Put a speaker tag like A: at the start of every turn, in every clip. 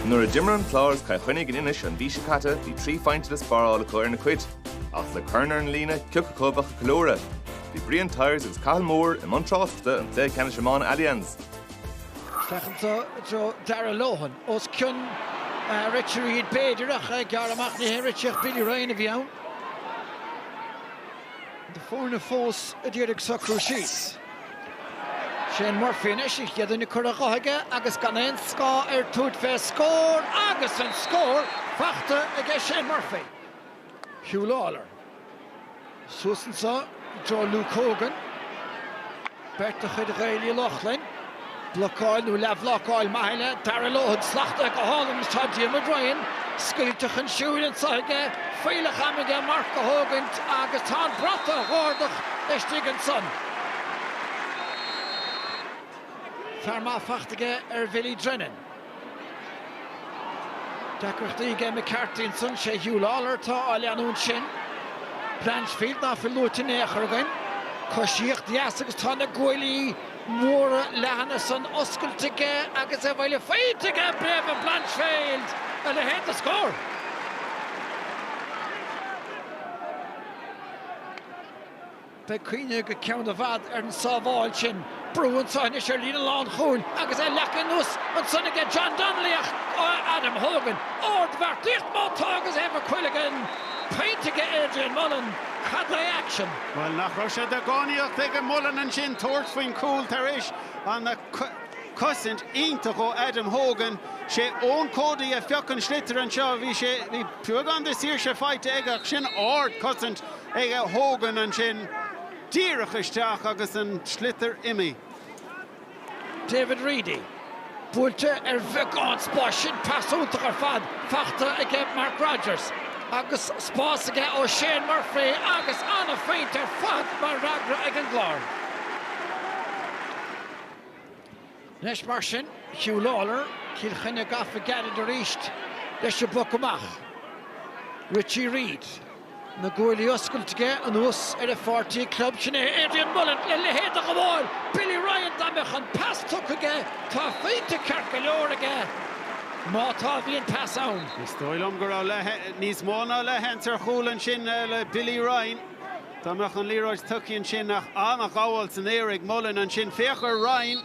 A: Nuair a d'imir an Clár is Cill Chainnigh in Inis an mhí seo caite bhí trí phointe le spáráil acu ar na Cait. Ach le corn ar an líne, ciocu acu a bheadh ag ceiliúradh. Bhí Brian Tyers agus Cathal Moore i mbun tráchtachta ón gcluiche ceannais iomána Allianz.
B: Féachann do Joe Darragh Lohan os cionn Richie Reid b'fhéidir ach gearr amach ní hé Richie ach Billy Ryan a bhí ann. Na foirne fós ag iarraidh socrú síos. Shane Murphy anois, an chéad duine curtha de aige agus gan aon scáth air tabhairt fé scór agus an scór fachta aige Shane Murphy. Huw Lawlor. Suas anso i dtreo Luke Hogan. Beirt de chuid Ghaeil Uí Lochlainn. Blocáil nó leathbhlocáil maith eile, Darragh Lohan slachtaithe go hálainn agus tá Diarmuid Ryan scaoilte chun siúil anseo aige, fuílleach ama aige marc a thógaint agus tá an bratach á ardach istigh ansan. Fearr maith fachta aige ar Bhilly Drennan. Deacrachtaí aige McCarthy ansan. Sé Huw Lawlor atá á leanúint sin. Blanchfield ná fuil luaite in aon chor againn. Coisíocht dheas agus tá na guaillí móra leathana san oscailt aige agus abhaile faighte aige ag David Blanchfield! A leithéid de scór! Beidh cuimhne go ceann i bhfad ar an sábháil sin. Brú anseo anois ar líne lánchúil agus é leagtha anuas ansan aige John Donnelly ach tá Adam Hogan, ardbheartaíocht má tá agus Éibhear Quilligan! Pointe aige Adrian Mullen. Cad é action? Bhuel, nach raibh
C: sé de dhánaíocht ag Mullen ansin tabhairt faoin chúl tar éis an cosaint iontach ó Adam Hogan. Sé Eoin Cody a phioc an sliotar anseo. Bhí sé, bhí tuagán de saoirse faighte aige ach sin ard cosaint ag Hogan ansin díreach isteach agus an sliotar
B: imithe. David Reidy buailte ar bheagán spáis sin pas iontach ar fad fachta aige Mark Rodgers agus spás aige ó Shane Murphy agus an-phointe ar fad mar fhreagra ag an gClár. Anois mar sin, Huw Lawlor, Cill Chainnigh gafa gairid arís leis an bpoc amach. Richie Reid, na guaillí oscailte aige anuas ar a pháirtí club. Sin é Adrian Mullen a leithéid de ghabháil! Billy Ryan, dá mbeadh an pas tugtha aige, tá a phointe ceart go leor aige má tá, bhí an pas ann. Is dóigh liom go raibh
C: níos mó ná leathsheans ar chúl ansin le Billy Ryan. Dá mbeadh an liathróid tugtha ansin ach an-ghabháil san aer ag Mullen ansin, féach air,
B: Ryan.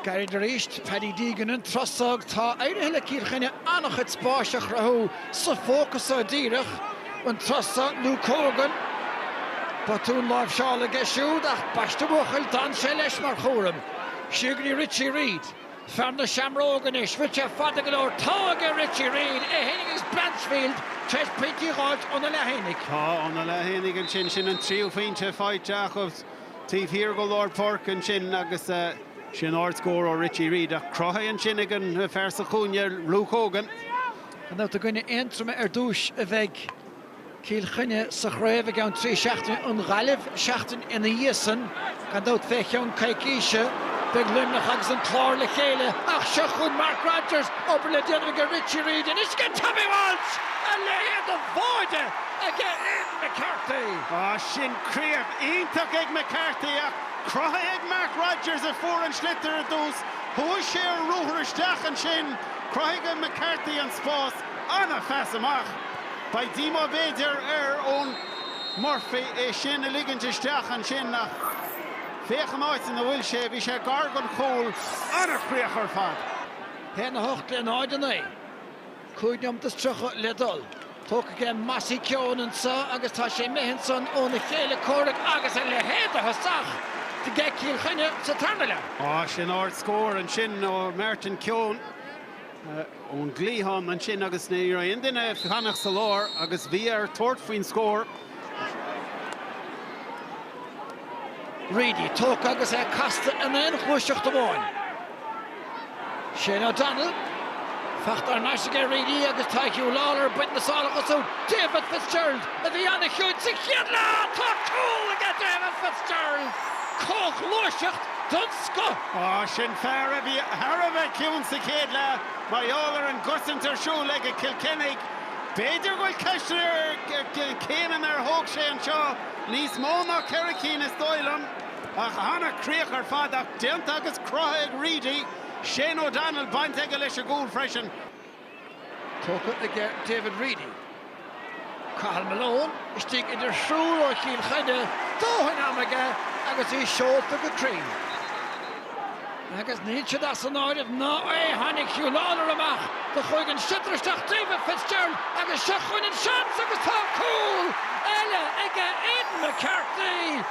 B: Gairid arís, Paddy Deegan an trasnú, tá éirithe le Cill Chainnigh an-chuid spáis a chruthú sa fócas go díreach, an trasnú, Luke Hogan. Botún láimhseála aige siúd ach ambaiste a bhuachaill, d'fhan sé leis mar chúram, Siúd é Richie Reid. Fear na seamróg anois, rite fada go leor. Tá aige Richie Reid, é fhéin agus Blanchfield tar éis pointí a dh'fháilt anois le déanaí. Tá anois le
C: déanaí ansin, sin an tríú phointe faighte acu taobh thiar go lár páirce ansin agus sin ard scór ó Richie Reid ach cruthaithe ansin ag an fear sa chúinne, Luke Hogan. Anonn go dtí i
B: gcoinne Aontroma ar dtúis a bheidh. Cill Chainnigh sa chraobh i gceann trí seachtaine, an Ghaillimh seachtain ina dhiaidh san. Gan dabht fé cheann coicíse beidh Luimneach agus an Clár le chéile. Ach seo chugainn Mark Rodgers, obair le déanamh aige Richie Reid, anois aige Tommy Walsh! A leithéid de mhaide aige McCarthy! Sin
C: críoch iontach ag McCarthy ach cruthaithe ag Mark Rodgers a fuair an sliotar ar dtús. Chuaigh sé ar ruathar isteach ansin. Chruthaigh McCarthy an spás. an-phas amach. Beidh díomá b'fhéidir ar Eoin Murphy é sin a ligint isteach ansin ach féach an áit ina bhfuil sé, bhí sé gar don chúl, an-chríoch ar fad. A haon a
B: hocht in aghaidh náid a naoi. Cúig nóimeat is tríocha le dul. Tógtha aige Mossy Keoghan anseo agus tá sé imithe ansan óna chéile comhraic agus a leithéid de thosach do Cill Chainnigh sa tarna leath. Sin ard
C: scór ansin ó Martin Keoghan. ón gcliathán ansin agus ní raibh aon duine ag fanacht sa lár agus bhí air tabhairt faoin
B: scór. Reidy tógtha agus é casta in aon ghluaiseacht amháin. Shane O'Donnell, faighte thar n-ais aige Reidy agus tá Hugh Lawlor ag baint na sálacha. Siúd David Fitzgerald a bhí an-chiúin sa chéad leath! Tá cúl aige David Fitzgerald! Comhghluaiseacht den scoth! Sin
C: fear a bhí thar a bheith ciúin sa chéad leath mar gheall ar an gcosaint ar siúl aige Cill Chainnigh. B'fhéidir go bhfuil ceist ar na céimeanna ar thóg sé anseo, níos mó ná ceithre cinn is dóigh liom. Ach ana chríoch ar fad ach déanta agus crutha ag Reidy. Shane O'Donnell baint aige leis an gcúl freisin.
B: Tógtha aige David Reidy. Cathal Malone istigh idir thriúr ó Chill Chainnigh, dóthain ama aige agus é seolta go tréan. Agus níl siad as an áireamh ná é, tháinig Hugh Lawlor amach do chuaigh an sliotar isteach David Fitzgerald agus seo chugainn an seans agus tá cúl eile aige Aidan McCarthy!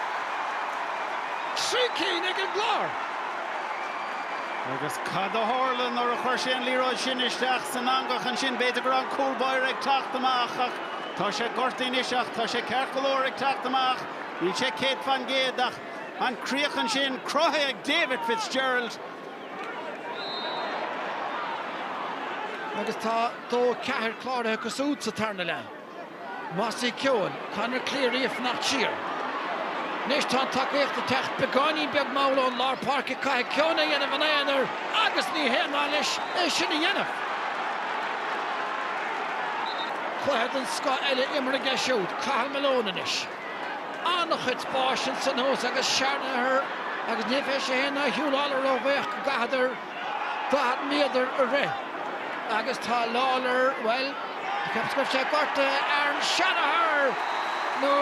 B: Trí cinn ag an gClár.
C: Agus cad a tharla nuair a chuir sé an liathróid sin isteach san eangach ansin? B'fhéidir go raibh an cúlbáire ag teacht amach ach tá sé gortaithe anois ach tá sé ceart go leor ag teacht amach. Níl sé céad faoin gcéad ach an críoch ansin cruthaithe ag David
B: Fitzgerald. Agus tá dó ceathair cláraithe acu siúd sa tarna leath. Mossy Keoghan, Conor Cleary a fanacht siar. Anois tá an tacaíocht ag teacht beagáinín beag mall ón lár páirce. Caithfidh Keoghan é dhéanamh ina aonar agus ní haon mhaith leis é sin a dhéanamh. Cluiche den scoth eile imeartha aige siúd, Cathal Malone anois. An-chuid spáis ansan thuas agus Sherlock agus ní bheidh sé fhéin ná Huw Lawlor róbhuíoch go gcaithfeadar 40 méadar a rith agus tá Lawlor, bhuel, cheapfainnse gortaithe ar an Shanagher nó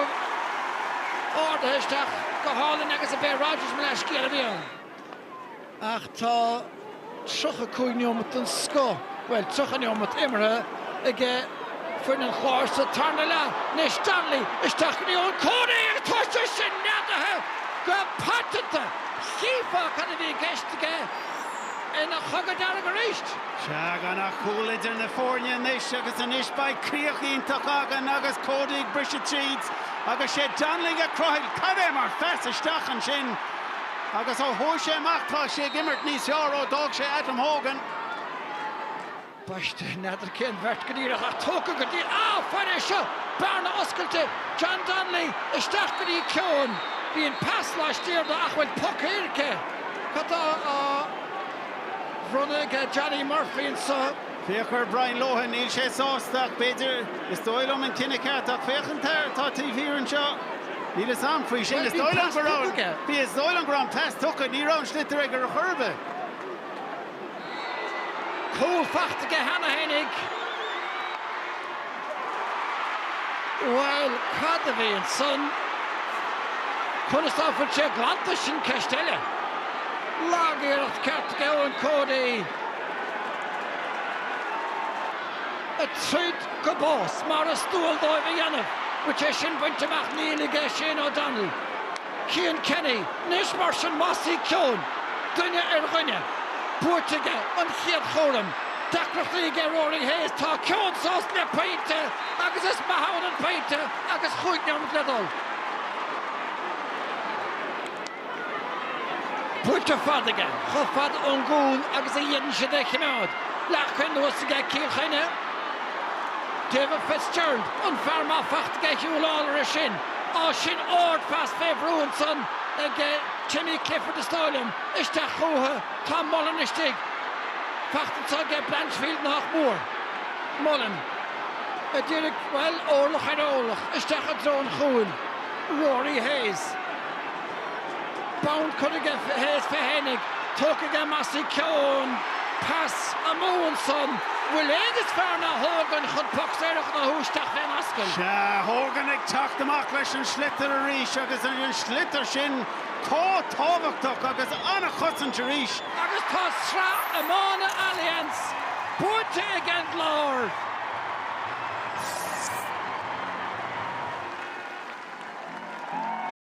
B: ardaithe isteach go hálainn agus b'é Rodgers mo leathscéal a bhí ann ach tá 35 neomat den scoth. bhuel 30 neomat imeartha ag foireann an Chláir sa tarna leath anois. Donnelly isteach i dtreo Cody agus tá sé sin neadaithe go paiteanta. Chífeá cad a bhí i gceist aige ina chogadh dearg arís. Sea, gan
C: ach cúl idir na foirne anois agus anois beidh críoch iontach againn agus Cody ag briseadh tríd agus is é Donnelly a chruthaigh. Cad é mar phas isteach ansin agus ó chuaigh sé amach tá sé ag imirt níos fearr ó d'fhág sé Adam Hogan.
B: Baiste, n'fheadar cén bheirt go díreach, ach tógtha go dtí na foirne seo. Bearna oscailte, John Donnelly isteach go dtí Keoghan. Bhí an pas laistiar dó ach bhfuil poc éirice. Cad tá á bhronnadh aige Johnny Murphy anseo? Féach ar
C: Brian Lohan. Níl sé sásta, ach b'fhéidir, is dóigh liom, an cinneadh ceart. Ach féach an t-aer atá taobh thiar anseo. Níl fhios a'am faoi sin. Is dóigh liom go raibh an, bhí, is dóigh liom go raibh an pas tugtha. Ní raibh an sliotar aige ar chor ar bith.
B: Cúl fachta aige cheana féinig. Bhuel, cad a bhí ansan? Conas ná fuil sé glanta? Sin ceist eile. Lagiarracht cheart ag Eoin Cody, ag troid go bás mar is dual dóibh a dhéanamh. Bhfuil sé sin bainte amach níl aige Shane O'Donnell. Cian Kenny, Anois mar sin Mossy Keoghan duine ar dhuine, buaite aige an chéad chúram, deacrachtaí aige Rory Hayes, tá Keoghan sásta le pointe agus is maith ann an pointe agus chúig nóimeat le dul. Buailte fada aige, chomh fada ón gcúl agus is féidir é a chimeád. Leagtha anuas aige Cian Kenny. David Fitzgerald, an fhearr maith fachta aige Huw Lawlor é sin. Á sin árd-phas fé bhrú ansan ag Timmy Clifford is dóigh liom. Isteach chútha tá Mullen istigh. Fachta anso aige Blanchfield nách mór. Mullen a d'iarraidh, bhuel, órlach ar órlach isteach i dtreo an chúil. Rory Hayes. Bonn curtha aige Hayes pé tháinig. Tógtha aige Mossy Keoghan. Pas amú ansan. Bhfuil éinne is fearr ná Hogan chun poc saor a ghnóthú isteach fén ascaill? Sea, Hogan ag
C: teacht amach leis an sliotar arís agus an sliotar sin chomh tábhachtach
B: agus
C: an-chosaint
B: arís.
C: Agus tá Sraith
B: Iomána
C: Allianz buaite ag an gClár!